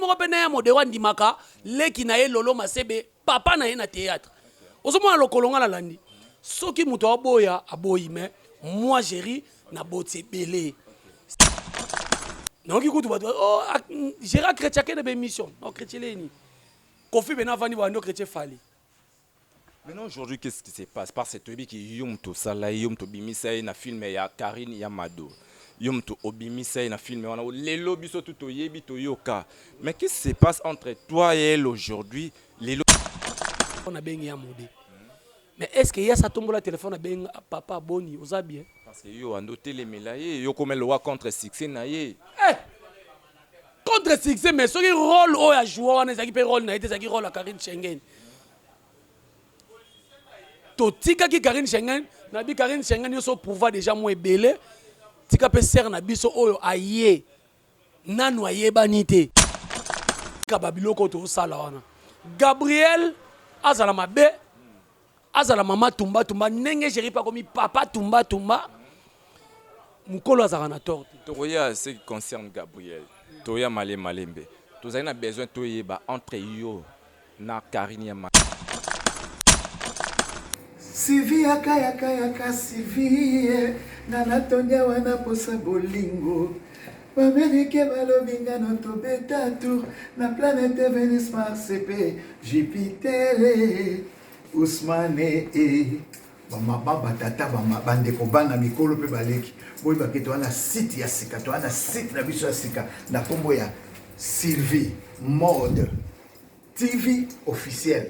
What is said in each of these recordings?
moko mpe na ya modero andimaka leki na ye lolo masebe papa na ye na théâtre ozomona lokolo nga nalandi soki moto aboya aboyi me moi géri na boti ebele nayoki kutu bato oh, géra chrétien akende ba émission no chrétien leni kofi bena avandi bando chrétien fali Maintenant aujourd'hui qu'est-ce qui se passe parce que toyebi ki yo moto osala ye yo moto obimisa ye na film ya Karine ya Mado yo moto obimisa ye na film wana lelo biso tu toyebi toyoka mais qu'est-ce qui se passe entre toi et elle aujourd'hui lelo on a bengi ya mode mais est-ce que yasa tombola téléphone a bengi ah, papa boni oza bien parce que yo ando telemela ye yo komelo wa contre succès na ye eh! contre succès mais soki role oyo ya joua wana ezalaki mpe role na ye te ezalaki role ya karine schengen totikaki karine schengen nabi karine schengen nyonso prouva déjà mwa ebele tika mpe sere na biso oyo aye nanu ayebani te kaba biloko oyo tosala wana gabriel azala mabe azala mama tumba tumba ndenge jeri mpe akomi papa tumba tumba mokolo azalaka na tort te tokoya ce qui concerne gabriel toya male malembe tozali na besoin toyeba entre yo na karine ya ma sivi yakayakayaka sivi ye nga natondi awa na posa bolingo Ba americains balobi ngano tobeta tour na planète Venus Mars pe Jupiter eh, Ousmane eh bamaba batata bandeko bana mikolo mpe baleki boyeba ke toza na site ya sika toza na site na biso ya sika na nkombo ya sylvie mode tv officiel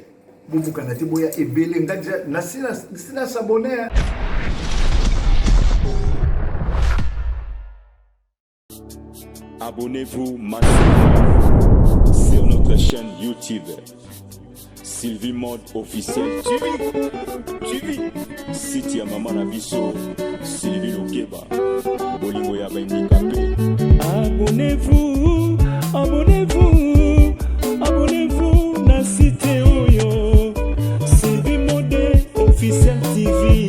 bobukana te boya ebele nga deja nasila sabone Abonnez-vous massivement sur notre chaîne YouTube. Sylvie Mode officiel TV. TV. Site ya mama na biso Sylvie Lokeba. Bolingo ya bandikape. Abonnez-vous, abonnez-vous, abonnez-vous na site oyo. Sylvie Mode officiel TV.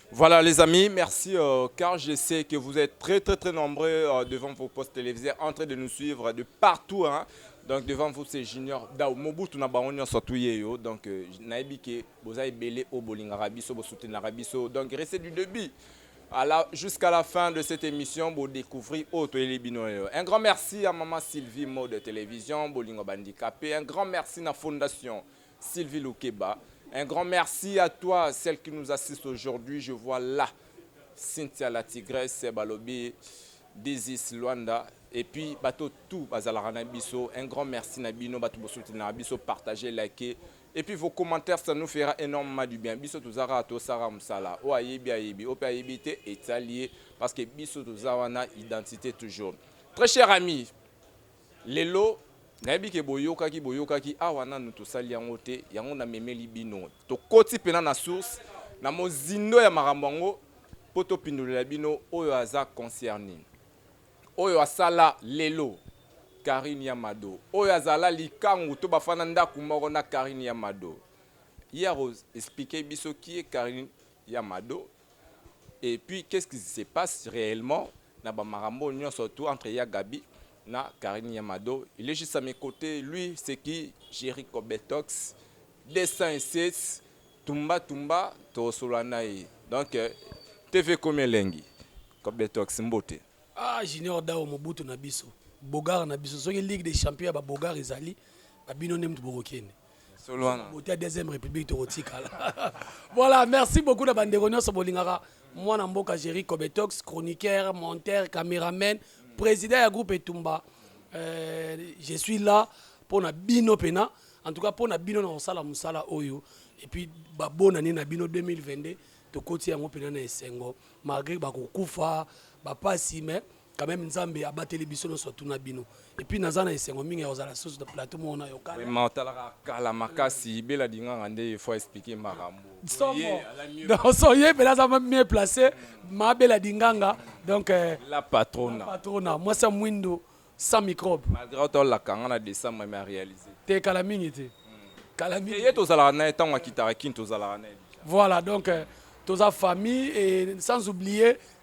Voilà les amis, merci euh, car je sais que vous êtes très très très nombreux euh, devant vos postes télévisés en train de nous suivre de partout. Hein. Donc devant vous c'est Junior Dao Mobutu na bango nyonso atuye yo. Donc euh, nayebi ke boza ebele o bolingaka biso bo soutenaka biso. Donc restez du début à la- jusqu'à la fin de cette émission bo découvrir o toyeli bino yo. Un grand merci à maman Sylvie Mode Télévision bolingo bandicapé. Un grand merci na fondation Sylvie Lukeba, un grand merci à toi, celle qui nous assiste aujourd'hui. Je vois là Cynthia la Tigresse, Balobi, Dizis Luanda, et puis bato tout bazalaka na biso. Un grand merci na bino, bato bosuti na biso, partagez, likez. Et puis vos commentaires, ça nous fera énormément du bien. Biso tozara to sara musala. O ayebi ayebi, ope ayebi te etali parce que biso tozawana identité toujours. Très cher ami, Lelo nayebi ke boyokaki boyokaki awa nanu tosali yango te yango na memeli bino tokoti pena na source na mozindo ya makambo yango po to pindolela bino oyo aza concerni oyo asala lelo carine ya mado oyo azala likangu to bafanda ndaku moko na carine ya mado ye ako explique biso qui est carine ya mado et puis qu'est ce qui se passe reellement na ba makambo nionso tout entre ya Gaby na Carine ya Mado il est juste à mes cotes lui c'est qui Jericho Betox 207 tumba tumba tokosola na ye donc euh, TV komi elengi Kobetox mbote ah junior dao mobutu na biso bogar na biso soki ligue des champions ya babogar ezali babino nde moto bokokende solo wana moto ya deuxième république tokotikala voilà merci beaucoup na bandeko nyonso bolingaka mwana mboka géri cobetox chroniqueur monteur cameraman président ya groupe etumba euh, je suis là mpo na bino mpena en tout cas mpo na bino na kosala mosala oyo et puis babonani na bino 2022 tokoti yango mpena na esengo malgré bakokufa bapasi mais quand même nzambe abateli biso nyonso atuna bino epuis naza na esengo mingi ya kozala susu na plateau moko na yoka vraiment otalaka kala makasi bela dinganga nde il faut expliquer makambo soso ye mpela aza mieux place ma bela dinganga donc euh, la patrona patrona mwasi ya mwindo sans microbe malgré otolaka nga na décembre mais aréalise te kala mingi te hmm. kala mingi ye tozalaka naye ntango akitaka kini tozalaka naye voilà donc euh, toza famille et sans oublier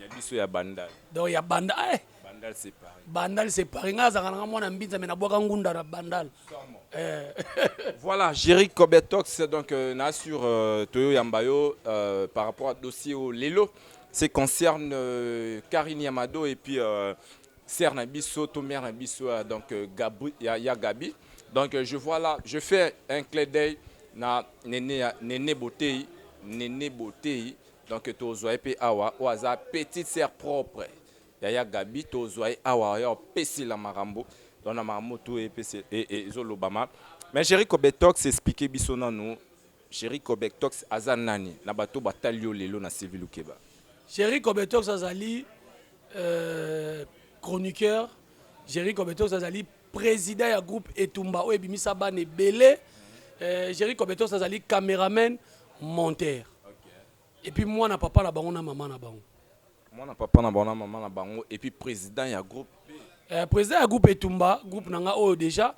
ya biso ya bandal donc ya banda eh bandal c'est pareil bandal c'est pareil nga azaka nanga mwana mbinza mais nabwaka ngunda na bandal eh. voilà Jerry Cobetox donc euh, na sur euh, Toyo Yambayo euh, par rapport à dossier au Lelo c'est concerne euh, Karine Yamado et puis euh, sœur na biso to mère na biso euh, donc euh, Gabri ya, ya Gabi donc euh, je vois là je fais un clé d'œil na Nene Nene Botei Nene Botei Donc tozwa ye pe awa oyo aza petite sœur propre ya ya Gabi tozwa ye awa ya opesila makambo donc na makambo tout epesi ezolobama mais Jerry Cobetox expliquer biso nanu Jerry Cobetox aza nani na bato batali yo lelo na Sylvie Lukeba. Jerry Cobetox azali euh, chroniqueur Jerry Cobetox azali president ya groupe etumba oyo ebimisa bana ebele euh, Jerry Cobetos azali cameraman monteur et puis mwana papa na bango na mama na bango mwana papa na bango na mama na bango et puis président ya groupe euh, président ya groupe etumba groupe na nga oyo déjà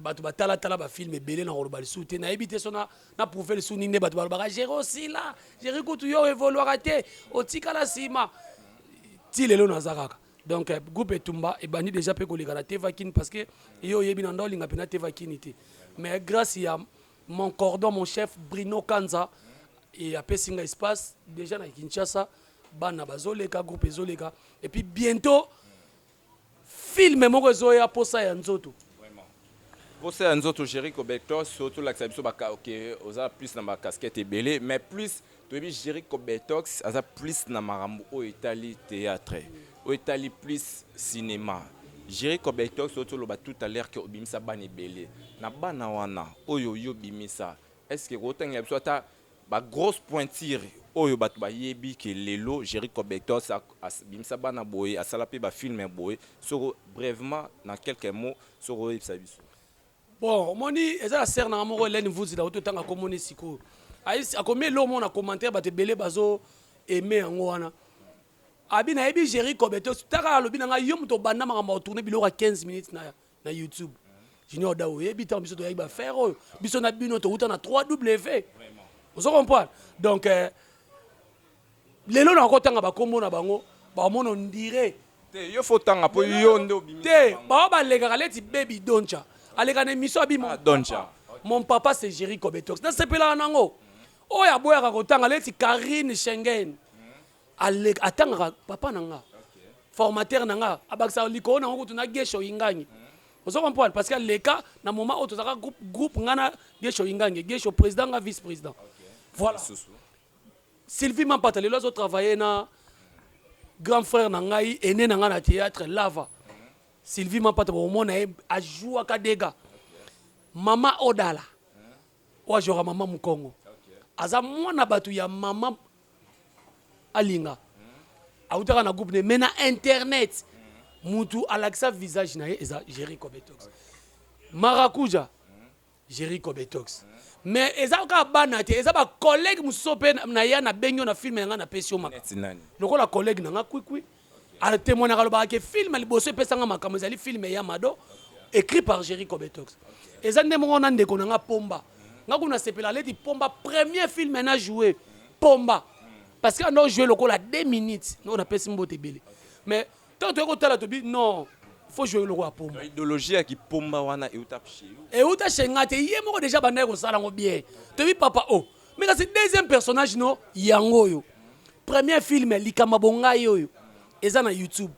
bato batalatala bafilme ebele na koloba lisusu te nayebi te so na prouve lisusu nini nde bato balobaka jere osila jere kutu yo evoluaka te otikala nsima ti lelo naza kaka donc euh, groupe etumba ebandi deja mpe koleka na tevakini parce que ye oyebi na nda olinga mpenza tevakini te mais grâce ya mon cordon mon chef brino kanza e apesi nga espace deja na kinshasa bana bazoleka groupe ezoleka et puis bientôt filme moko ezoya mposa ya nzoto mposa ya nzoto jeriko betos tolakisa biso oza plus na bacasquete ebele mais plus toyebi Jericho Betox aza plus na makambo oyo etali théâtre oyo etali plus cinéma Jericho Betox oyo toloba tout à l'heure que obimisa bana ebele na bana wana oyo yo obimisa est-ce que kotangela biso ata ba grosse pointure oyo bato bayebi ke lelo Jericho Betox abimisa bana boye asala mpe ba filme boye soko brèvement na quelques mots soko oyebisa biso Bon, omoni eza la sœur nanga moko Hélène Vuzi la oto tanga komone siko. Aïs akomi elo mona commentaire ba te belé bazo aimer yango wana. Abi na yebi Jerry Kobe to taka alobi nanga yo moto banda makambo au tourner biloko 15 minutes na na YouTube. Junior Dao yebi tant biso to yaki ba faire oyo biso na bino to uta na 3W. Vraiment. Vous comprenez? Donc euh, lelo na kotanga ba kombo na bango ba mono ndire te yo faut tanga po yo nde obimi te ba balekaka leti baby doncha aleka na emission abi mon doncha mon papa c'est Jerry Kobetox na sepelaka nango oyo aboyaka kotanga leti Karine Schengen aleka atangaka papa na nga formateur na nga abakisaka likolo na ngo kutu na gesho ingangi ozo comprendre parce que aleka na moment oyo tozalaka groupe groupe nga na gesho ingangi gesho président nga vice président voilà Sylvie Mampata lelo azo travailler na grand frère na ngai aîné na ngai na théâtre Lava. Sylvie Mampata bomona ye a jouaka dega. Mama Odala oyo ajouaka mama Mukongo. Aza mwana bato ya mama Alinga. Autaka na groupe ne mais na internet mutu alakisa visage na ye eza Jerry Kobetox. Maracuja Jerry Kobetox. Mais eza kaka bana te, eza ba collègues mosusu mpe na ya na bengi yo na film na nga na pesi yo maka. Neti nani? Lokola collègue na nga Kwikwi. A temoignaka alobaka ke film liboso epesa nga makambo ezali film ya Mado écrit par Jerry Kobetox. Eza nde moko na ndeko na nga Pomba. Nga kutu na sepelaka leti Pomba premier film na joue Pomba. Parce que na o joue lokola deux minutes. Nao na pesi mbote ebele. Mais Tant toyeko tala to bi non faut jouer lokola pomba. Idéologie ya kipomba wana euta chez yo. Euta chez nga te ye moko déjà bandaki kosala ngo bien. To bi papa oh. Mais kasi deuxième personnage no yango oyo. Premier film likama bongai oyo eza na YouTube.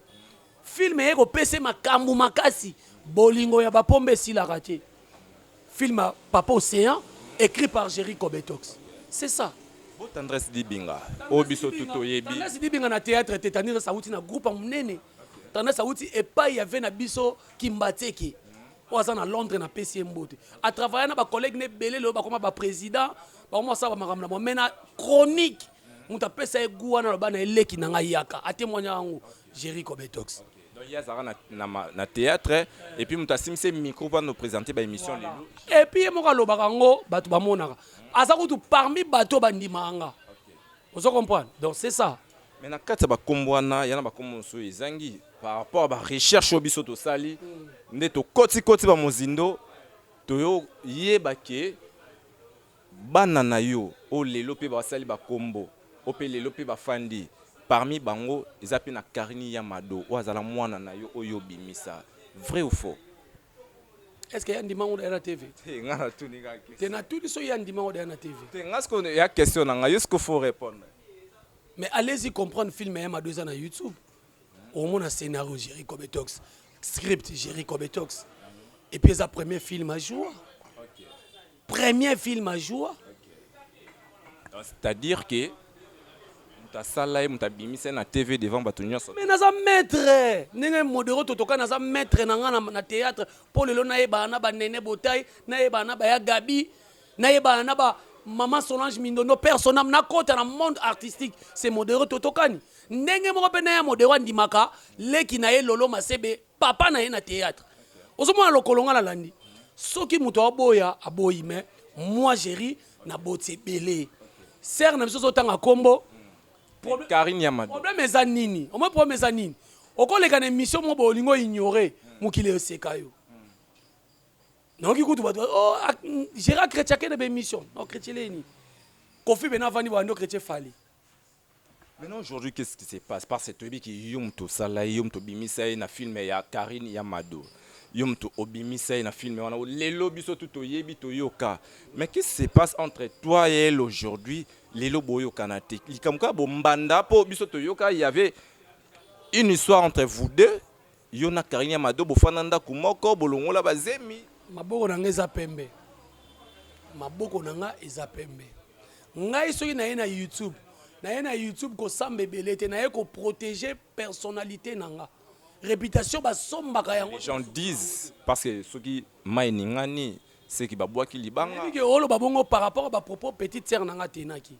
Film eye kopese makambu makasi bolingo ya bapomba esilaka te. Film ya papa ocean ecrit par Jerry kobetox c'est ça. Bo tendresse dibinga oyo biso tout to yebi. Tendresse dibinga na theatre te tendresse awuti na groupe ya munene tendresse awuti epayi ya vie na biso kimbatseke oyo aza na londre na pesi ye mbote a travailla na ba collegue ne ebele lelo bakoma ba president bakoma basala ba makambo na bango mais na chronique mutu apesa ye gout wana aloba na ye leki na nga yaka a temoigna yango Jerry Kobetox. Donc ye azalaka na, na, ma- na théâtre et puis moto asimbi se micro mpo ano présenter ba émission lelo epuis ye moko alobaka yango bato bamonaka aza kutu parmi bato bandimaka nga ozo comprendre donc c'est ça mais na kati ya bakombo wana yana bakombo mosusu oyo ezangi par rapport ya barecherche oyo biso tosali nde tokotikoti bamozindo toyoyeba ke Bana na yo oyo lelo pe basali ba kombo, oyo pe lelo pe bafandi, parmi bango eza pe na Carine ya Mado oyo azala mwana na yo oyo yo obimisa. Vrai ou faux? Est-ce que ye andima ngo daya na TV? Te, nga na tuni kaka question. Te, na tuni soki ye andima ngo daya na TV. Te, nga sikoyo eya question na nga, yo sikoyo faut repondre. Mais allez y comprendre film ya Mado eza na YouTube, omona scenario Jerry Kobetox, script Jerry Kobetox, et puis eza premier film a joua. Premier film a joua. C'est-à-dire que moto asala ye moto abimisa ye na tv devant bato nyonso mais naza maître ndenge modero totoka naza maître na ngai na théâtre mpo lelo nayebana na banene botai nayebana na baya gabi nayebana na ba mama solange mindondo personnam nakota na monde artistique se modero totokani ndenge moko mpe naya modero andimaka leki na ye lolo masebe papa na ye na théâtre ozomona lokolo nga nalandi soki moto aoboya aboyi mais moi jeri na boti ebele sere na biso ozotanga nkombo problème eza nini omoi problème eza nini okoleka na émission moko bolingo oignore mokili eseka yo nayoki kutu bato oh, géra chrétien ake na baémission no chrétien leni kofi bena avandi bando chrétien fali Maintenant aujourd'hui qu'est-ce qui se passe parce que toyebi ki yo moto osala ye yo moto obimisa ye na film ya Karine ya Mado yo moto obimisa ye na film wana lelo biso tu toyebi toyoka mais qu'est-ce qui se passe entre toi et elle aujourd'hui lelo boyokana te likambo kaka bombanda mpo biso toyoka il y avait une histoire entre vous deux Yo na carine ya mado bofanda ndaku moko bolongola ba zemi. Maboko na nga eza pembe maboko na nga eza pembe ngai soki naye na youtube naye na youtube kosamba ebele te naye ko proteger personnalité na nga reputation basombaka yango Les gens disent parce que soki mai eningani seki babwaki libanga. Nayebi ke oloba bongo par rapport ba propos petite sœur na nga atenaki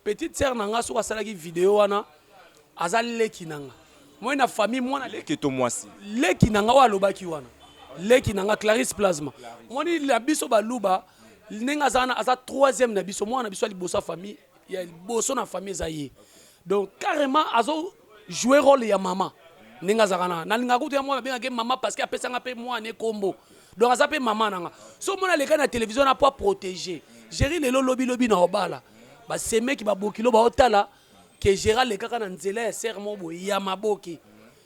Petite sœur na nga soki asalaki video wana aza leki na nga moi na famille mwana leki to mwasi leki na nga oyo alobaki wana leki na nga Clarisse Plasma moni na biso baluba ndenge aza wana aza troisième na biso mwana na biso ya liboso ya famille ya liboso na famille eza ye donc carrément azo jouer role ya mama ndenge azalaka na nalingaka kutu ya mwana abengaka ye mama parce que apesanga mpe mwana ye kombo donc aza mpe mama na nga so mwana aleka na televizio na mpo aprotege jeri lelo lobi lobi na obala basemeki babokilo baotala ke jeri alekaka na nzela ya sere moko boye ya maboke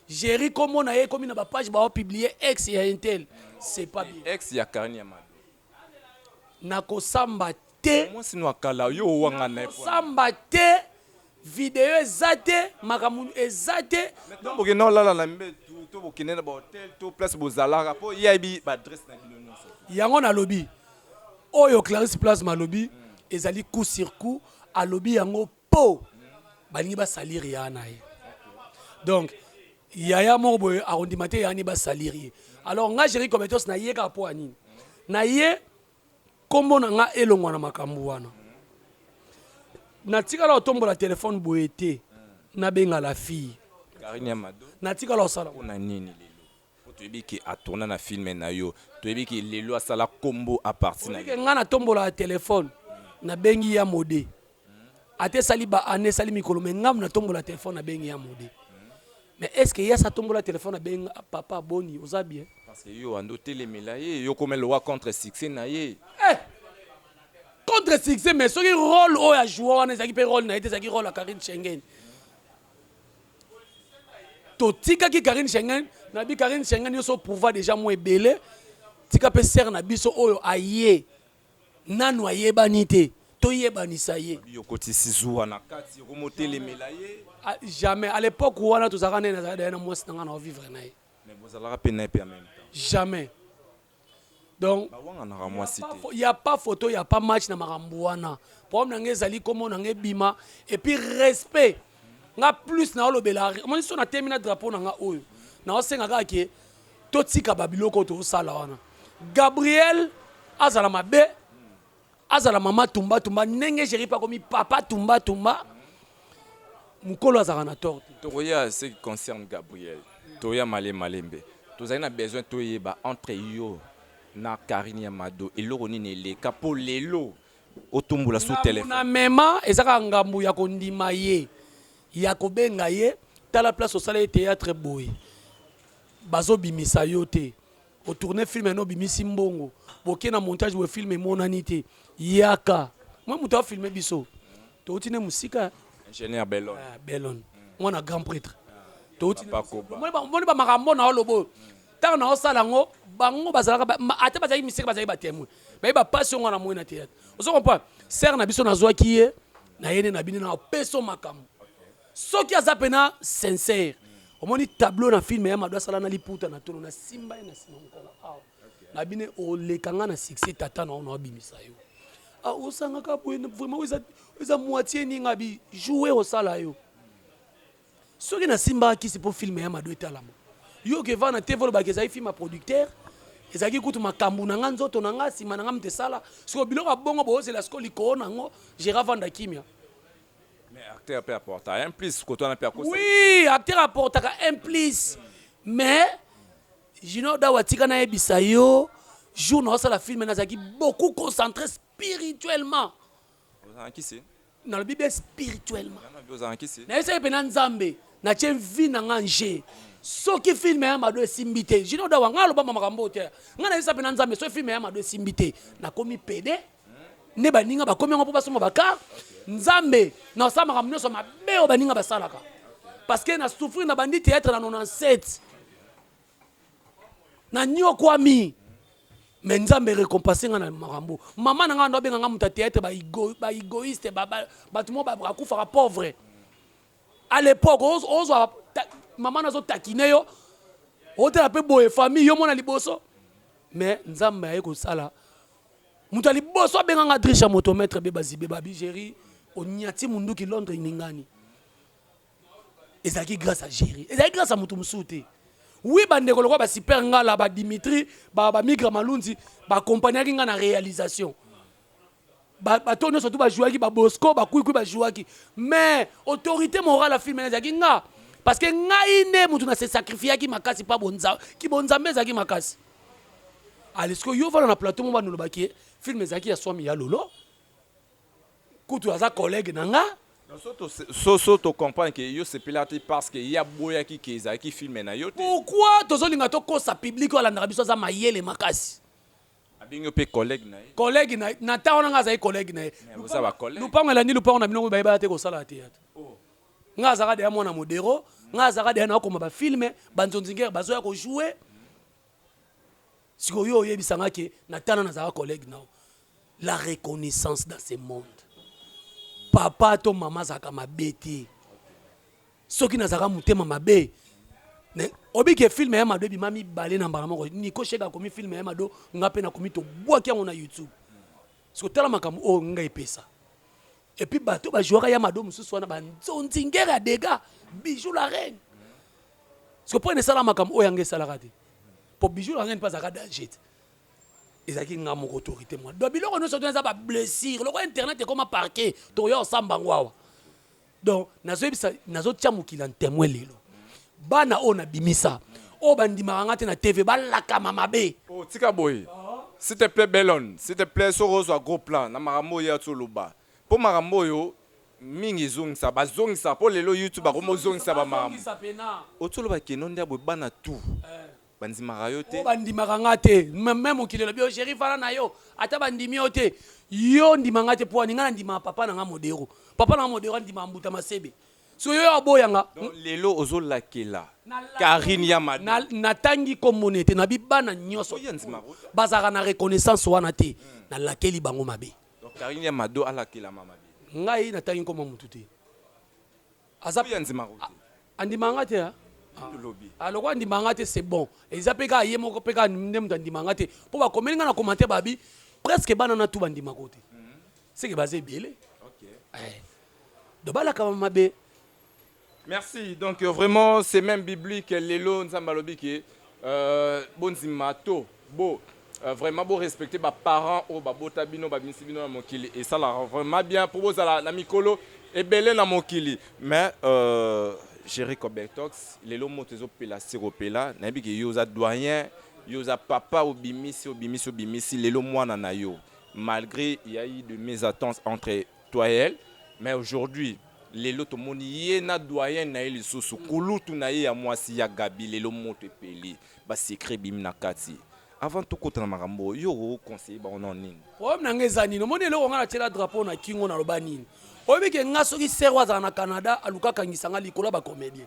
jeri kombo na ye ekomi na bapage baopiblie ex ya intel c'est pas bien ex ya karine ya mado Nakosamba te. Mwasi nwa kala yo owangana naye pona nini. Nakosamba te. Video eza te makambo eza te. Mais tango bokendaka olala na mbetu to bokendeke na ba hotel to place bozalaka po ye ayebi ba adresse na bino nionso. Yango nalobi oyo Clarisse Plasma alobi ezali coup sur coup alobi yango Po balingi ba salir yaya na ye donc yaya moko boye akondima te yaya ne ba salir ye alors nga Jerry Cobetos na ye kaka po ya nini na ye kombo na nga elongwa na makambu wana na tikala kotombola telephone boye te na benga la fille Carine ya mado na tikala kosala pona nini lelo. Po toyebi ke a tourna na film nayo toyebi ke lelo asala kombo a parti nayo. Oyebi ke nga na tombolaka telephone na bengi Ya Mode ata esali ba annee esali mikolo mais nga na tombola telephone na bengi Ya Mode mais est ce que ye asi a tombola telephone a bengi nga papa boni oza bien? Parce que yo wanda otelemela ye yo okomi lokola contre succès naye. Eh! Contre succès mais soki role oyo a joua wana ezalaki pe role naye te ezalaki role ya Carine Shengene. totikaki Karine Schengen na bi Karine Schengen yo so prouva déjà mwa ebele tika pe sœur na biso oyo aye nanu ayebani te toyebanisa ye yokotisi zuwa na kati okomotelemela ye ah, jamais à l'époque wana tozalaka naye nazalaka daya na mwasi na ngai na ovivre na ye mais bozalaka pe na ye pe en même temps jamais donc bawanganaka mwasi te il y a pas photo il y a pas match na makambo wana problème na ngai ezali kombo na ngai bima et puis respect nga plus na olobela omoni so na temi na drapeau na nga oyo na osenga kaka ke totika ba biloko oyo tozosala wana gabriel azala mabe azala mama tumba tumba ndenge jeri mpe akomi papa tumba tumba mokolo azalaka na tort te tokoya ce qui concerne gabriel toya male malembe tozali na besoin toyeba entre yo na karine ya mado eloko nini eleka mpo lelo otumbula sous telefone na mema eza kaka ngambo ya kondima ye ya kobenga ye tala place osala ye théâtre boye bazobimisa yo te o tourner film no bimisi mbongo boke na montage we film emonani te yaka mwa moto a filme biso touti ne mosika ingénieur belon ah, belon mwana grand prêtre touti moni bamakambo na oloba oyo ntango na osala yango bango bazalaka ata bazalaki misika bazalaki batemoin baye bapasi yango wana moi na teyatre ozo comprendre sere na biso nazwaki ye na yene na bino na opeso makambo soki aza pena sincère omoni tableau na film ya mado asala na liputa na tolo nasimba ye na nsima mokolo awa na bine oleka nga na succès tata na ono abimisa yo ah, osangaka boye vraiment eza, eza moitié ninga bi joue osala yo soki nasimbaka kisi mpo filme ya mado etalama yo okeva na tv olobaka ezali filme ya producteur ezalaki kutu makambo na nga nzoto na nga nsima na nga mte esala siko biloko ya bongo boozela siko likoo na yango gera vanda kimia Mais acteur pe apporta un plus koto wana pe akosa. Oui, acteur apportaka un plus. Mais Junior Dawa tika na yebisa yo jour na osala film nazalaki beaucoup concentré spirituellement. Ozalaki se. Nalobi bien spirituellement. Ozalaki se. Na yesaki pena Nzambe na tie vie na nga nje. soki filme ya mado esimbi te jino dawa ngai alobama makambo te ngai nayesa mpe na nzambe soki filme ya mado esimbi te nakomi pede nde baninga bakomi yango mpo basomba bakar nzambe na osala makambo nyonso mabe oyo baninga basalaka parce que na souffrir na bandi théâtre na 97 na nyokwami me nzambe récompense nga na makambo mama na nga ndo abenga nga moto ya théâtre baégoïste ba ba, bato mo bakufaka pauvre à l'époque ozwa mama nazo takine yo otala mpe boye famille yo mona liboso me nzambe aye kosala Moto ya liboso abenga nga Drisha motometre beba zibe ba bijeri onyati munduki Londres ningani. Ezalaki grâce à Jerry. Ezalaki grâce à moto mosusu te. Oui bandeko lokola ba Super Ngala, ba Dimitri, ba ba Migra Malunzi ba accompagnaki nga na réalisation. Ba ba to nyonso tu ba jouaki ba Bosco, ba Kwikwi ba jouaki. Mais autorité morale ya film ezalaki nga parce que ngai nde moto na se sacrifiaki makasi pa bonza ki bonzambe ezalaki makasi. ale sikoyo yo vana na plateau mo banolobaki ye filme ezalaki ya swami ya lolo kutu aza collègue na nga so so tocomprendre ke yo sepela te parce que ye aboyaki ke ezalaki filme na yo te pourquoi tozolinga tokosa publike oyo alandaka biso aza mayele makasi abengi yo mpe collègue na ye collègue na na ntango wana nga azali collègue na ye lupango elandi lupango na bino bayebaka te kosalaka teyatre nga azaka deya mwana modero nga azaka deya naokoma bafilme banzonzingere bazoya kojoue sikoyo oyebisa nga ke natana nazalaka collègue nao la reconnaissance dans ce monde papa to mama azalaka mabe te soki nazalaka motema mabe obike filme ya mado ebima mibale na mbala moko niko sheke akomi filme ya mado nga mpe nakomi tobwaki yango na youtube siko tala makambo oyo nga epesa Et puis bato ba jouera ya mado mosusu wana ba nzonzi ngere ya dega bijou la reine soki mpo ene esala makambo oyo yanga esalaka te mpo bijou la reine mpe azalaka danger te ezalaki nga moko autorité mwa donc biloko nyonso tona eza bablessure lokola internet ekoma parke tokoya osamba yango awa donc nazoyebisa nazotya mokili ya ntemwe lelo Bana oyo na bimisa oyo ba ndimaka nga te na TV ba lakama mabe. Oh tika boye s'il te plait Belonne s'il te plait soki ozwa gros plan na makambo oyo ya oloba po makambo oyo mingi ezongisa ba zongisa po lelo youtube akomi ozongisa ba makambo oyo ti oloba keno ndia boye bana tout ba ndimaka yo te. Ba ndimaka nga te meme mokili elobi yo cheri fanda na yo ata ba ndimi yo te yo ndima nga te pwani nga na ndima papa na nga modero papa na nga modero andimaka mbuta masebe Soki yo aboya nga. Donc lelo ozo lakela Carine ya mado. Na, na tangi kombo ne te, na bi bana nioso bazalaka na reconnaissance wana te, na lakeli bango mabe. Donc Carine ya mado alakelama mabe. Ngai na tangi kombo ya mutu te. Aza pe andimaka yo te. Andimaka nga te hein? Ah, lokola andimaka nga te c'est bon. Eza pe kaka ye moko pe kaka nde mutu andimaka nga te. Po ba komeli nga na commentaire ba bi presque bana na tout ba ndimaka yo te. C'est que baza ebele. Okay. Eh. Tobalaka mabe. Merci donc euh, vraiment c'est même biblique lelo nzambe alobi ke euh, bondima to bo euh, vraiment bo respecter ba parents oyo babota bino babimisi bino na mokili esalaka vraiment bien mpo bozala na mikolo ebele na mokili mais euh, Jerry Cobertox lelo moto ezopela sikopela nayebi ke yo oza doyen yo oza papa obimisi obimisi obimisi lelo mwana na yo malgré il y a eu de mésentente entre Toyel mais aujourd'hui lelo tomoni ye na doyenne na ye lisusu kulutu na ye ya mwasi ya Gaby lelo moto epeli ba secret ebimi na kati avant tokota na makambo oyo yo oko conseiller bango na nini? Problème na nga eza nini omoni eloko nga na tiela drapeau na kingo na loba nini oyebi ke nga soki sœur oyo azala na Canada aluka akangisa nga likolo ya ba comedien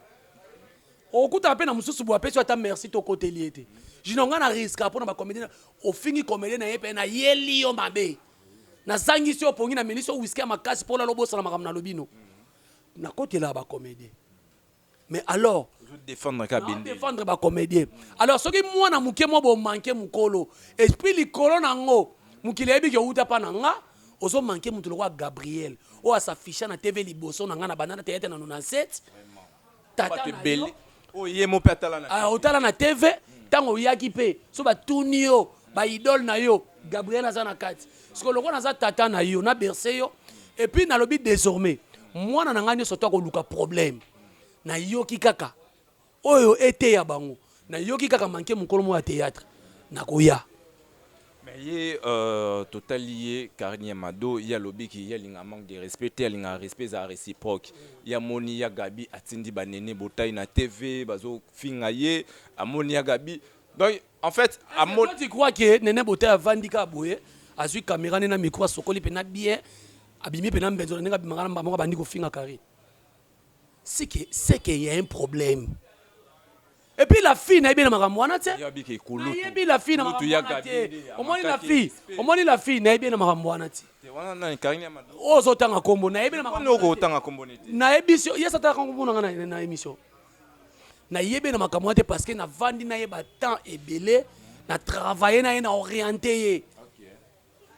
okutana pe na mususu boye apesi yo ata merci te okoteli ye te junior nga na risque po na ba comedien ofingi comedien na ye pe na yeli yo mabe na zangisi yo pongi na melisi yo whisky ya makasi mpo lalo bosana makambo nalobi no nakotelaka bacomédien mais alors défendre bacomédien alors soki mwana moke mwa bomanke mokolo esprit likolo na yango mokili ayebi ke outa mpa na nga ozomanke moto lokola gabriel oyo asaficha na tv liboso na nga na banana teyate na 97 tata ebele oyo ye mo pe atala na ah, otala na tv ntango oyaki mpe so batuni yo baidole na yo gabriel aza na kati sikoyo lokola naza tata na yo na berse yo epuis nalobi désormais mwana na ngai nyonso to akoluka problème nayoki kaka oyo eteya bango nayoki kaka manke mokolo moko ya théâtre nakoya Mais ye euh, totali ye Karine ya Mado ye alobi ki ye alinga manque de respect te alinga respect eza reciproque ye amoni ya Gabi atindi banene botai na TV bazofinga ye amoni ya Gabi donc en fait amoni... Toi, tu crois que Nene Botai avandi kaka boye azwi kamera nde na micro asokoli mpena bien abimi mpena mbenzo na ndenge abimaka na mbala moko abandi kofinga Karine seke seke ya un problème Et puis la fille nayebi na makambo wana te. Nayebi la fille na makambo wana te. Omoni la fille, omoni la fille nayebi na makambo wana te. Wana nani Karine ya Mado. Oyo ozotanga kombo nayebi na makambo. Wana okotanga kombo nete. Nayebi si yesa tanga kombo na nga na, na emission. Nayebi na makambo wana te parce que navandi na ye ba temps ebele na travailler na ye na orienter ye. Okay.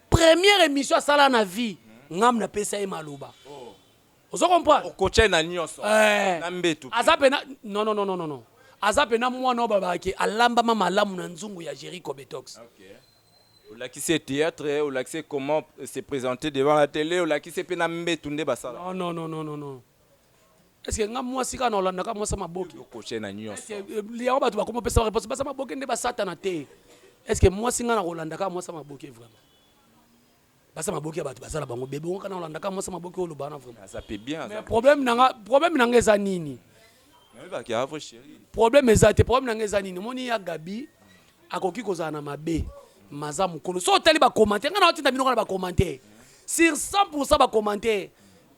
Première émission asala na vie, ngam napesa ye maloba. ozo comprendre okocha na nioso eh, na mbetu aza pena non non non non non aza pena mwana oyo babaki alambama malamu na nzungu ya Jericho Betox okay. olakisi ye théâtre olakisi ye comment se présenter devant la télé olakisi pe na mbetu nde basala non non non non non est-ce que nga mwasi kaka na olanda ka mwasi maboki okocha na nioso eh, liango bato bakoma pesa réponse basa maboki nde basatana te est-ce que mwasi nga na kolanda ka mwasi maboki vraiment basa maboki ya bato baza na bango bebe okoka na olandaka mwasa maboki oloba wana vraiment problème nanga problème nanga eza nini problème eza te problème nanga eza nini omoni ya gabi akoki kozala na mabe maza mokolo so otali bacommentaire ngai naotinda bino kaka na bacommentaire sur 100 pourcent bacommentaire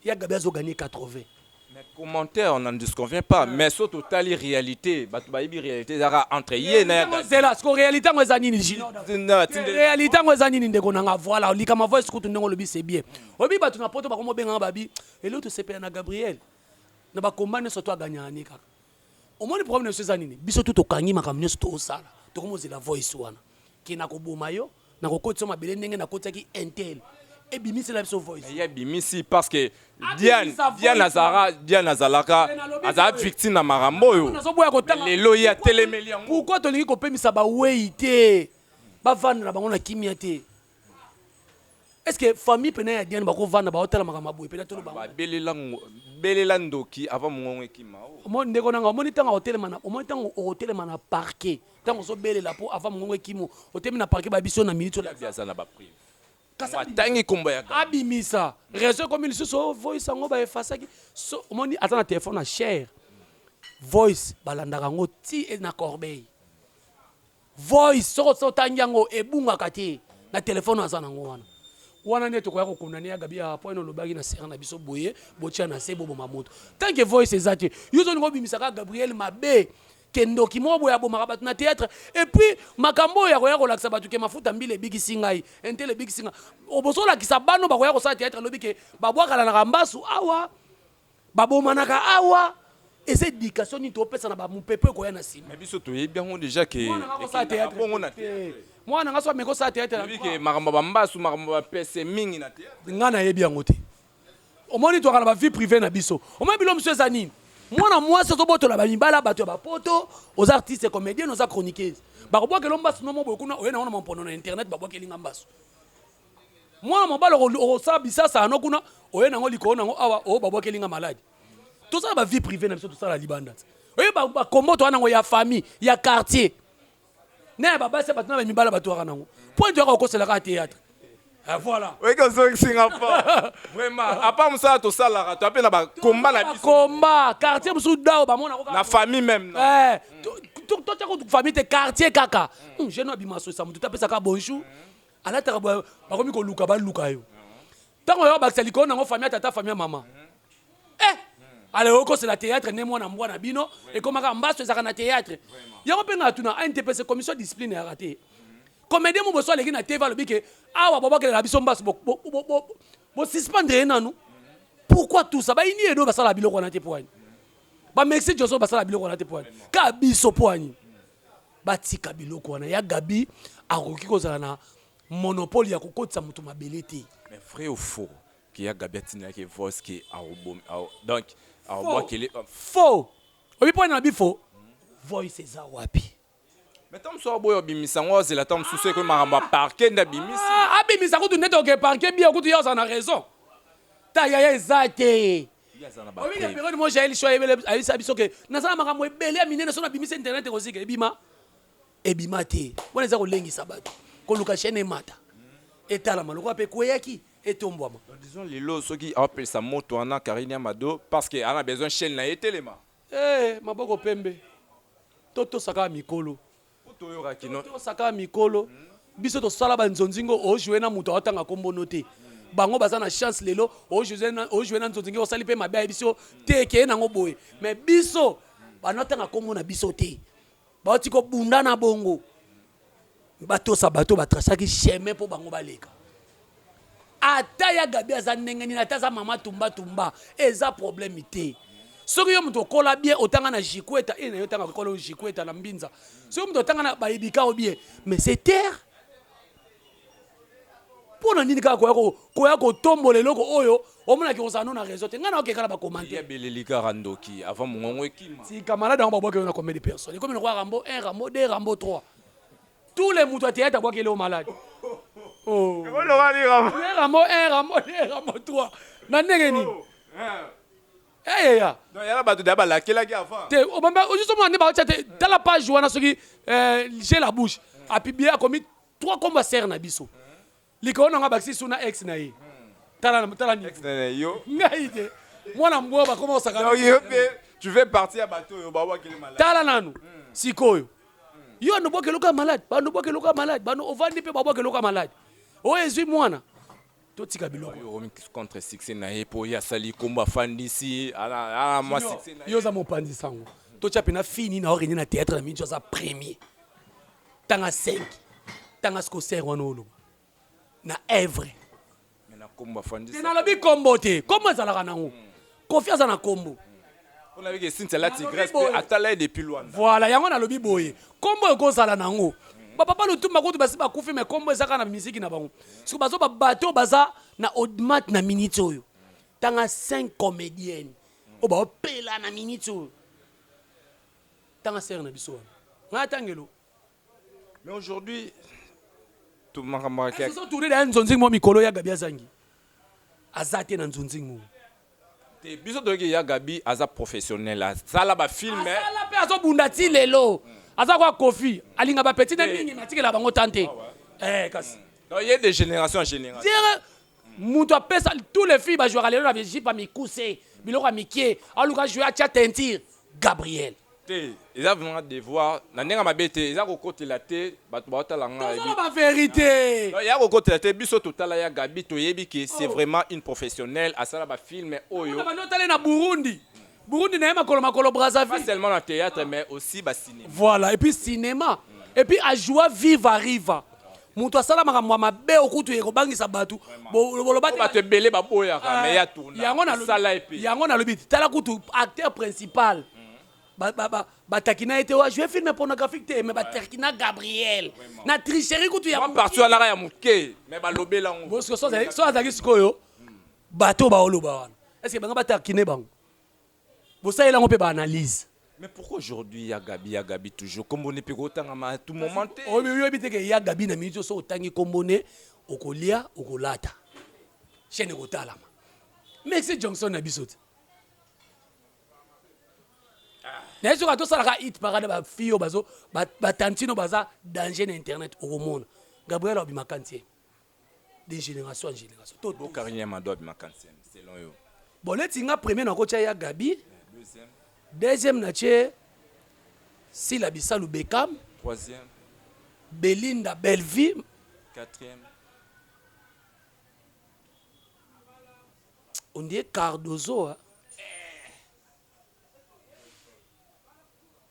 Ya Gaby azo gagner 80. Mais commentaire on ne se convient pas mais so totali realite bato bayebi realite ezalaka entre ye na ya Gaby. zela siko realite yango eza nini jino Na tindeli- realite yango eza nini ndeko na nga voilà olikama voice kutu ndenge olobi c'est bien oyebi bato na poto bakomi obenga nga babi eleo tosepela na gabriel na bakomba nyonso to aganyaka ne kaka Omoni problème na biso eza nini? Biso tout tokangi makambo nionso tozosala. Tokomi kozela voice wana ke nakoboma yo, nakokotisa yo mabele ndenge nakotisaki un tel. Ebimisela biso voice. Mais ye abimisi parce que Diane, Diane azara, Diane azalaka aza victime na makambo oyo. Nazoboya kotanga. Lelo ye atelemeli yango. Pourquoi tolingi kopemisa bawei te? Bavanda na bango na kimia te. est ce que famille pena ya diane bakovanda baotala makambo ya boye pena tolo bango babelela ngo- belela ndoki avant mongongo ekima oh. Omo- ndeko nanga omoni ntango akotelema na omoni ntango okotelema na parquet ntango ozobelela mpo avant mongongo ekimo otelemi na parquet bayebi biso na minute ola- Gabi aza na ba prive Kasi abimi- atangi kombo ya Gabi. abimisa réseau ekomi lisusu o voice yango baefasaki so omoni aza na telefone na cher voice balandaka yango ti e na corbeille Voice soko so tangi yango ebungaka te na telephone aza na ngo wana. Wana nde tokoya ko condamner ya Gabi awa point olobaki na sœur na biso boye botia na se boboma moto. Tant que voice eza te yo ozo linga obimisa kaka Gabrielle mabe ke ndoki moko boye abomaka batu na theatre et puis makambo oyo ya koya kolakisa batu ke mafuta mbila ebikisi ngai intel ebikisi ngai oboso olakisa bana oyo bakoya kosala theatre lobi ke babwakalanaka mbasu awa Babomanaka awa eza education nini topesa na ba mupepe ekoya na sima. Mais biso toyebi yango deja ke bongo na theatre. Mwana nga so ameko sa theatre na bike makambo ba mbasu makambo ba pese mingi na theatre. Nga na yebi yango te. Omoni toaka na ba vie privee na biso. Omoni bilo musu eza nini? Mwana mwasi ozo botola ba mibala batu ya ba poto oza artiste comedienne oza chroniqueuse. Bako bwakelo mbasu no moboye kuna oye na ngo na mampono na internet ba bwakeli nga mbasu. mwana mobali okosala bisasa yano kuna oye nango likolo nango awa oyo oh, babwakeli nga maladi tosala ba vie privée na biso tosala libanda oye bakombo toya nango ya famille ya quartier na ya babasi ya bato na bamibala bato yaka nango mpo ete yaka okoselaka théâtre eh, voilà oyeke ozongisi nga fo vraiment apa mosala tosalaka toya mpe na bakomba na biso komba quartier mosusu dao bamona na famille même eh, totya kutu famille te quartier kaka hmm, jeune abima sosa motu tapesaka bonjour alataka boye bakomi koluka baluka yo ntango oyo bakisa likolo nango famille tata famille mama eh ala okosela théâtre nde mwana mbwa na bino ekomaka mbaso ezalaka na théâtre yango mpe ngai atuna antps commission discipline yaka te comédien mo boso aleki na tv alobi ke awa bobakelela biso mbaso bosuspendre ye nanu pourquoi tout ça bayini edo basala biloko wana te poani bamexi joso basala biloko wana te poani ka biso poani Batika biloko wana ya Gaby akoki kozala na monopole ya kokotisa moto mabele te. Mais vrai ou faux que ya Gaby atindaki ye voice que akobomi ao donc aobwakeli Faux! Oyebi mpo na bi faux? Voice eza wapi? Mais tango mosusu aboya obimisa yango azela tango mosusu ekomi makambo ya parquet nde abimisi. Ah, abimisa kutu nde toke parquet bio kutu ye azala na raison. Ta yaya eza te. Oyebi na periode mo Jael Show ayebisa biso ke naza na makambo ebele ya minene so nabimisi internet ekozika ebima ebima te wana eza kolengisa bato koluka chaîne emata etalama lokola mpe ekweyaki etombwama disons lelo soki aopelisa moto wana Karine Amado parce que ana besoin chaîne na ye etelema eh maboko pembe totosaka mikolo Tosaka mikolo biso tosala ba nzonzi ngo o jouer na moto aotanga kombo no te bango baza na chance lelo o jouer na nzonzi ngo osali mpe mabe ayebi biso te ekeye nango boye mais biso banatanga kombo na biso te baoti kobunda na bongo batosa bato batrasaki chemin mpo bango baleka Ata ya Gaby aza ndenge nini ata aza maman tumba tumba eza problème te. Soki yo moto okola bien otanga na Jikweta et na yo tanga kolo Jikweta na Mbinza. Soki moto otanga na bayebika o bien mais c'est terre mpo na nini kaka koya koya kotombola eloko oyo omonaki kozala no na réseau te ngai nayoki kala bakomantebeleli kaka ndoki avant mongongo ekima tika malade yango babwaki yo na combien de personne ekomi lokola rambo 1 rambo 2 rambo 3 Tous les mutu ya théâtre abwaki eleo malade. Oh. Oloba ni Rambo. Ne Rambo 1, Rambo 2, Rambo 3. Na ndenge nini? Oh, eh. eh ya. Non yala batu da balakelaki avant. Te obamba oh, juste mwana ba chate tala page wana soki euh j'ai la bouche. A publier akomi trois combats serre na biso. likolo na nga bakisi su na ex na ye tala tala ni ex na yo ngai te mwana mbwa bakoma osaka donc yo pe tu fais partie ya bato oyo babwakeli malade tala nanu hmm. sikoyo hmm. yo ando bwakeli oka malade bando bwakeli oka malade bando ovandi pe babwakeli oka malade oyo ezwi mwana totika biloko contre succès na ye po ye asali kombo afandisi ala mwa succès na ye yo oza mopanzi sango totya pena fini na orenie na théâtre na mingi aza premier tanga 5 tanga siko ser wana oloba na evre te nalobi kombo te kombo ezalaka nango hmm. kofi aza na kombo voilà yango nalobi boye kombo ekozala nango bapapa lutumba kutu basi bakufi me kombo ezaka na miziki na bango siko bazo babato oyo baza na odmat na miniti oyo tanga 5 comédienne oyo baopela na miniti oyo tanga sere na biso wana ngai atangelo mais aujourd'hui makambo tourne na nzonzing mwa mikolo ya gabi azangi aza te na nzonzing mwa te biso toyoki ya gabi aza professionnel asala bafilme asala mpe azobunda ti lelo aza kwa kofi alinga bapeti na mingi natikela bango tan te ah eh, kasi ye de génération en génération mutu apesa tous les filles ba jouaka lelo na vijipa mikuse biloko ya mikie aluka joue atia teinture gabriel te eza vraiment devoir na ndenge mabe te eza kokotela te bato baotala nga tozoloba ba verite ya kokotela te biso totala ya gabi toyebi ke c'est vraiment une professionnelle asala ba filme oyo banda otala ye na burundi burundi na ye makolo makolo pas brazzaville seulement na théâtre mais aussi ba cinéma voilà et puis cinéma et puis ajoua viva riva moto asala makambo ya mabe o kutu ekobangisa bato bolobaki bato ebele baboyaka ah, me ya tuna yango nalosala ye mpe yango nalobi te tala kutu acteur principal mhm. batakina ye te wa joue filme pornographique te me batakina gabriel na tricherie kutu ya parti alaka ya moke me balobela yango so azalaki sikoyo bato baoloba wana estce banga batakine bango Bosalela yango pe ba analyse. Mais pourquoi aujourd'hui ya Gaby ya Gaby toujours kombo ne pe ko tangama tout moment te. Oyebi te que ya Gaby na minute oyo soki otangi kombo ne okolia okolata chaine ekotalama mais si Johnson na biso te. naye soki atosalaka hit parade ba fille oyo bazo batantino baza danger na internet okomona gabriel abimaka ntie de génération en génération to bo carine ya mado abima kansen selon yo bon neti nga premier nakotya ya gabi deuxième deuxième natye sila bisalu bekam troisième belinda bellevie quatrième on dirait cardozo hein?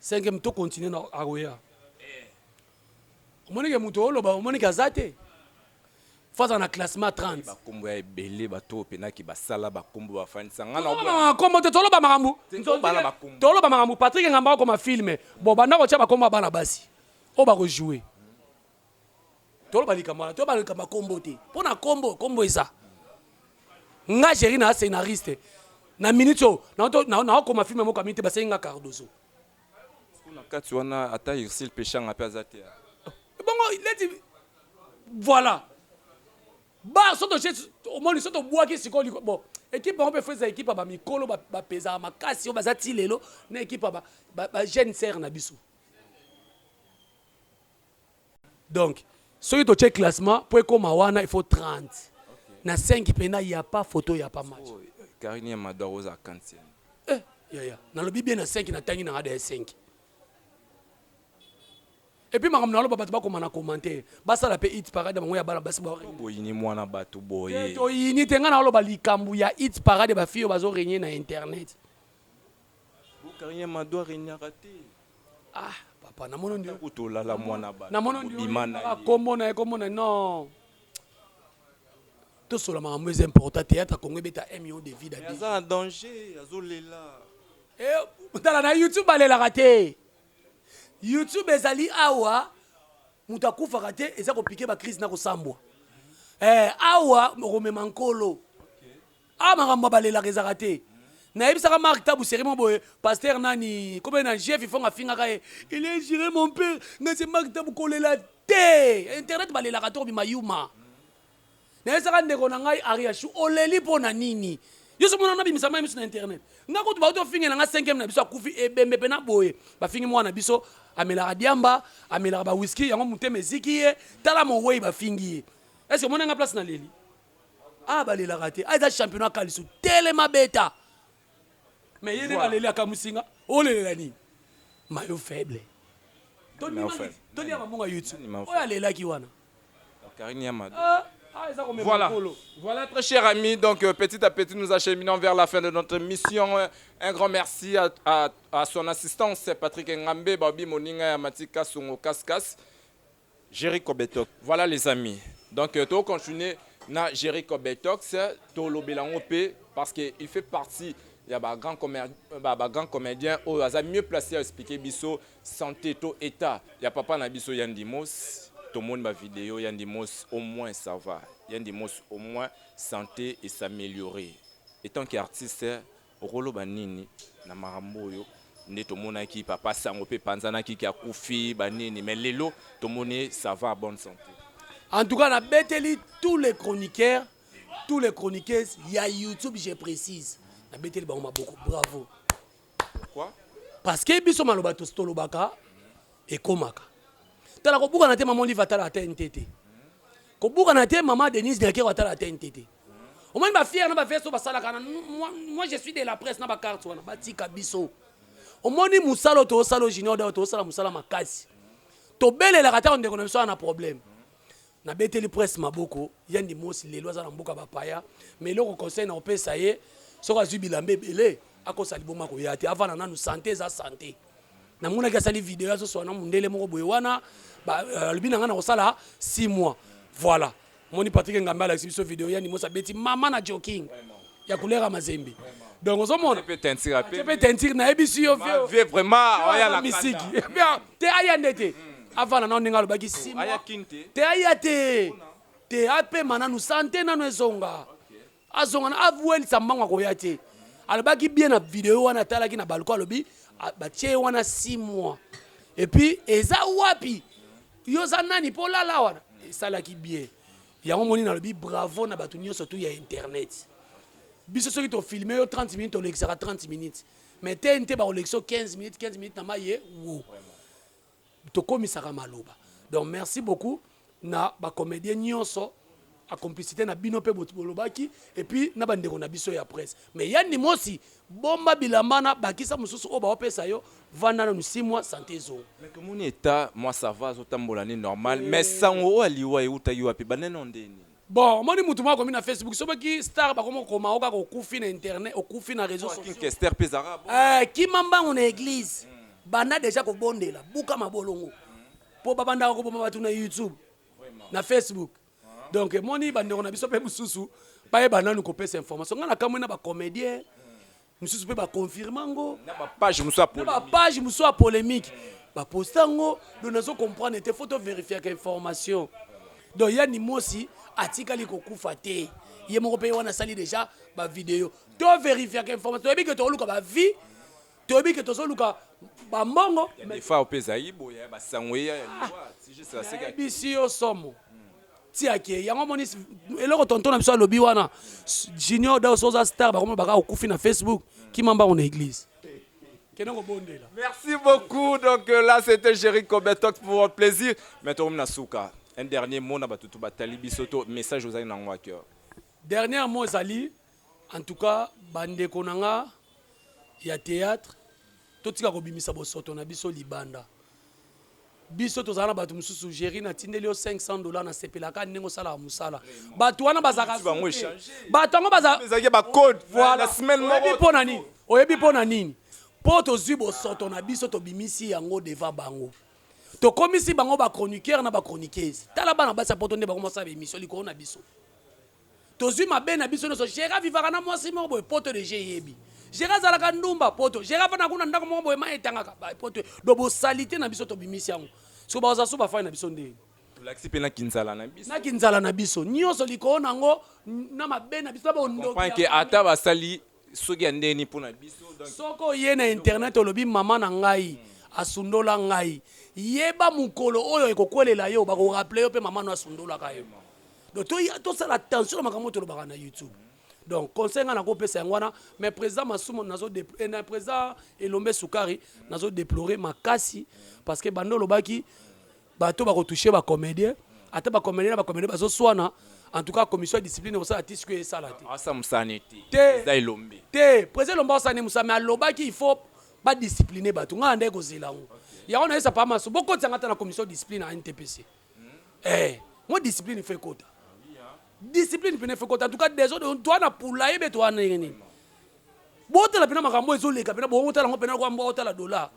Cinquième to continuer na akoya. Omoni ke moto oloba omoni ke aza te. Faza na classement 30. Ba kombo ya ebele ba to pena ki basala ba kombo ba fanisa ngana obo. Toloba kombo te toloba makambo. Toloba makambo Patrick Ngamba akoma film. Bo banda ko tia ba kombo ya bana basi. Oyo ba ko jouer. toloba likambo wana toyeba likambo ya kombo te mpo na kombo kombo eza nga géri na scénariste na minute oyo naokoma filme moko amini te basengi nga cardozo na kati wana ata ursil peshanga mpe aza te eh, bongo leti voilà ba soto omoni soto obwaki sikoyo bon ekipe yango mpe fo eza ekipe ya bamikolo bapezaka makasi oyo baza ti lelo na ekipe ya bajeune serre na biso donc soki totie classement mpo ekoma wana il faut 30 na 5 mpena ya pa photo ya pa match Oyo, Karine ya Mado akozala kantienne. eh, yaya nalobi bien na 5 natangi na ngada ya 5 epuis makambo naloba bato bakoma na commentaire basala mpe it parade ya bango ya bana basi ba- Boyini mwana bato boye. toyini te ngai naloba likambo ya it parade ya bafille oyo bazoregne na internet Carrière Mado aregnaka te. Ah, papa, namono ndio. Tango tolala mwana bana. Namono ndio. Bima na ye. Kombo na ye, kombo na non. Tosola makambo eza important. Théâtre Congo ebeta 1 million de vies d'habitants. Aza na danger, azolela. Eh, tala na YouTube balelaka te. YouTube ezali awa moto akufaka te eza kopike bacrise na kosambwa eh, awa okomema nkolo Awa makambo ya balelaka ezalaka te. Nayebisaka Marc Tabu serie moko boye, pasteur nani, kombe na Jeff Ifong afingaka ye, il est jure mon père, nga c'est Marc Tabu kolela te. Internet balelaka trop bima yuma. Nayebisaka ndeko na ngai Ariachou, oleli mpo na nini? Yo somo na bimisa mai misu na internet. Nga kutu bauti ofingela nga 5e na biso akufi ebembe mpe na boye. Bafingi mwana biso amelaka diamba, amelaka ba whisky, yango motema eziki ye, tala mowei bafingi ye. Est-ce que omoni nga place na leli? Ah balelaka te. Ah eza championnat kalisu. Telema beta. Mais yene voilà. baleli akamusinga. Olelela nini? Mayo faible. Tony Mangis. Tony Mambonga YouTube. Oyo alelaki wana. Karine Yamado. Ah. Ah, voilà. voilà, très chers amis, donc euh, petit à petit nous acheminons vers la fin de notre mission. Euh, un grand merci à, à, à son assistance, Patrick Ngambe, Babi Moninga, Matika Songo Kaskas. Jerry Kobetox. Voilà les amis. Donc euh, to continuer na Jerry Kobetox to lobela ngo pe parce que il fait partie ya ba grand comédien euh, ba, ba grand comédien oyo aza mieux placé à expliquer biso santé to état ya papa na biso ya Ndimos. Tomoni ba vidéo ya Ndimos au moins ça va. Ya Ndimos au moins santé et s'améliorer. Étant qu'artiste Okoloba nini na makambo oyo nde tomonaki papa sango pe panzanaki ke akufi ba nini mais lelo tomoni ye ça va bonne sante. En tout cas na beteli tous les chroniqueurs tous les chroniqueuses ya YouTube je precise na beteli bango maboko bravo. Pourquoi? Parce que biso maloba tolobaka. ekomaka tala kobukana te mama olive atalaka tnt te kobukana te mama denise nyakero atalaka tnt te omoni bafiere na baveste oyo basalaka na moi je suis de la presse na bacarte wana batika biso omoni mosala oyo toosala o junior dawa toosala mosala makasi tobelelaka ntango ndeko na biso wana na problème Na beteli presse maboko yandi mosi lelo aza na mboka ba paya mais eloko conseil na kopesa ye soki azui bilamba ebele akosa liboma koya te avanda nanu sante eza sante na monaki asali video azo swana mundele moko boye wana euh, alobi na nga na kosala 6 mois voilà moni Patrick Ngambe alakisi biso video yandi mosi abeti mama na joking ya couleur ya mazembe donc ozomona mpe teinture ape mpe teinture nayebisi yo vieux vie vraiment oya na misiki Bien, te aya nde te avanda nao ndenge alobaki sima aya kin te te aya te te apema nanu sante nanu ezonga azonga na awelisa mbango akoya te alobaki bien na video wana atalaki na balko alobi a- batie ye wana 6 mois epuis eza wapi yo oza nani mpo olala wana esalaki bien Yango moni nalobi bravo na bato nyonso tu ya internet. Biso soki to filme yo 30 minutes tolekisaka 30 minutes. Mais TNT bakolekisa 15 minutes 15 minutes na maye wo. Tokomisaka maloba. Donc merci beaucoup na ba comédiens nyonso a complicité na bino pe bolobaki et puis na ba ndeko na biso ya presse. Mais Yann Mosi Bomba bilamba wana bakisa mususu oyo baopesa yo vanda nanu six mois sante ezonga. Mais tomoni etat mwa ça va azo tambola nde normal mais sango oyo ya liwa ewutaki wapi ebandaki nao ndenge nini? Bon omoni mutu moko akomi na Facebook soki star bakomi kokoma yo kaka okufi na internet okufi na reseaux sociaux. King kester pe ezalaka bongo. Eeh kima mbangu na eglise banda dejà kobondela buka mabolongo po babandaka koboma batu na YouTube na Facebook. donc emoni bandeko na biso mpe mosusu bayeba nanu kopesa information ngai nakamwe na bacomédien mosusu mpe baconfirme yango na bapage mosusu ya na polemique. bapage mosusu ya polémique baposta yango do nazo comprendre te fo toverifiaka information donc ya nimosi atikali kokufa te ye moko mpe ye wana asali déjà bavideo toverifiaka information toyebi ke tokoluka bavie toyebi ke tozoluka bambongo defa mpe ezalaki boye ya basango eya ya liwa nayebisi yo somo tiake yango omoni eloko tonton na biso alobi wana junior daus oza star bakomona baka okufi na facebook kima mbango na eglise kende kobondela merci beaucoup donc euh, là c'était jerry cobetok pour un plaisir mais tokomi na suka un dernier mot na batutu batali biso to message ozali na yango ya cœur dernier mot ezali En tout cas ba ndeko na nga ya theatre totika kobimisa bosoto na biso libanda biso tozala na bato mosusu géri natindeli yo 500 dollar nasepelaka ndenge osalaka mosala bato wana bazalaka bato yango bazalaki bacode oyebi mpo na nini oyebi mpo na nini mpo tozwi bosoto na biso tobimisi yango devant bango tokomisi bango bachroniqueur na bachroniqueuse tala bana basi ya poto nde bakomasala baémission likolo na biso Tozui mabe na biso nioso. Gera vivaka na mwasi moko boye poto deja eyebi. Gera azalaka ndumba poto. Gera afandaka kuna ndako moko boye mayi etangaka ba poto. Donc bo salite na biso tobimisi yango. Sikoyo ba Wazasu bafandi na biso ndeni? Tolakisi pe na kinzala na biso. Na kinzala na biso. Nioso likolo na yango na mabe na biso na bondoki ya famille. Comprendre que ata basali soki ya ndenge nini pona biso donc Soki oye na internet olobi maman na ngai asundola ngai, yeba mukolo oyo ekokwelela yo bako rappeler yo pe maman no asundolaka yo. Donc to tosala attention na makambo oyo tolobaka na YouTube. Donc conseil ngai nako pesa yango wana mais president Masumu nazo depl eh, na president Elombe Sukari nazo deplorer makasi parce que banda olobaki Bato bako toucher ba comediens ata ba comediens na ba comediens bazo swana en tout cas commission ya discipline ekosala ti sikoyo esala te. Asa musane te. Te. Eza elombe. Te president elombe akosa ne musa mais alobaki il faut ba discipline bato ngai nandaki kozela yango okay. yango nayesa pa maso bokotisa ngai ata na commission discipline ya ntpc mm. eh, mo discipline ifo ekota discipline mpena ifo ekota en tout cas desordre toa na pula ye be toa ndenge nini botala mpena makambo ezoleka mpena bootala yango mpena lokola mbo otala dola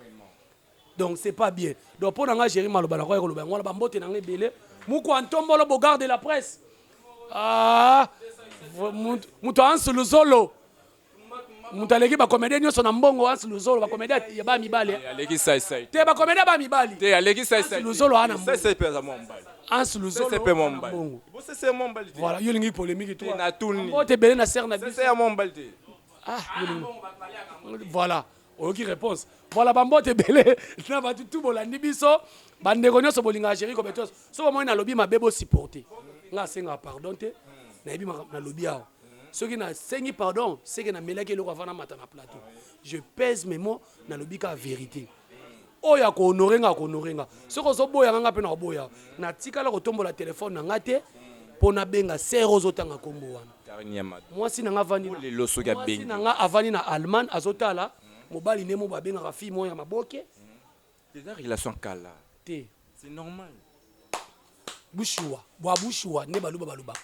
donc c'est pas bien donc mpo na ngai géri maloba na koya koloba yango wana bambote na ngai ebele mukwa ntombolo bogar de la presse ah, moto ansu luzolo moto aleki bakomedie nyonso na mbongo ansu luzolo bakomedie ya ba mibali eh. te bakomedie ba mibali luzolo ana ansu luzolo voilà yo olingi polémique tobote ebele na serre na biso ah, voilà oyoki réponse voilà bambote ebele na bato tu bolandi biso bandeko nyonso bolingaka géri cobetos soki omoni nalobi mabe bosupporte nga asengaka pardon te nayebi makambo nalobi awa soki nasengi pardon seke namelaki eloko avana mata na plateau je pèse mes mots nalobi kaka vérité Oyo ako honore nga ako honore nga soki ozo boya nga nga pe nako boya yo na tikala ko tombola telephone na nga te po na benga sœur ozo tanga kombo wana mwasi na nga avandi na mwasi na nga avandi na Allemagne azo tala mobali nemo ba bengaka fille moko ya maboke eza relation kala te c'est normal bushuwa bwa bushuwa nde baluba balobaka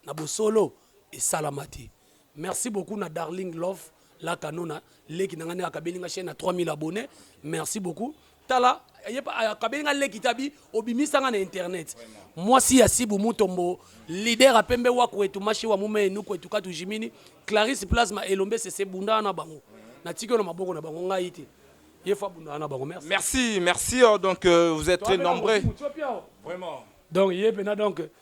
na bosolo esalama te merci beaucoup na darling love la kanona leki na nga nde akabeli nga chaîne na 3000 abonne merci beaucoup tala akabeli nga leki tabi obimisa nga na internet mwasi ya sibu mutombo leader apembe wa kwetu mashi wa mume enu kwetu katu jimini clarisse plasma elombe sese bunda na bango natiki yo na maboko na bango ngai te ye fa bunda na bango merci merci merci oh, donc euh, vous êtes très nombreux vraiment donc ye pena donc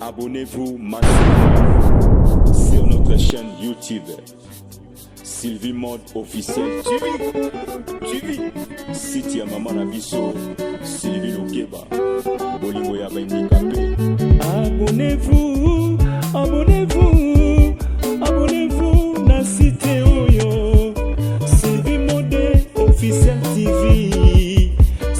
Abonnez-vous maintenant sur notre chaîne YouTube Sylvie Mode officiel TV. Site ya maman na biso Sylvie Lokeba. Bolingo ya bandikape. Abonnez-vous, abonnez-vous, abonnez-vous na site oyo Sylvie Mode officiel TV.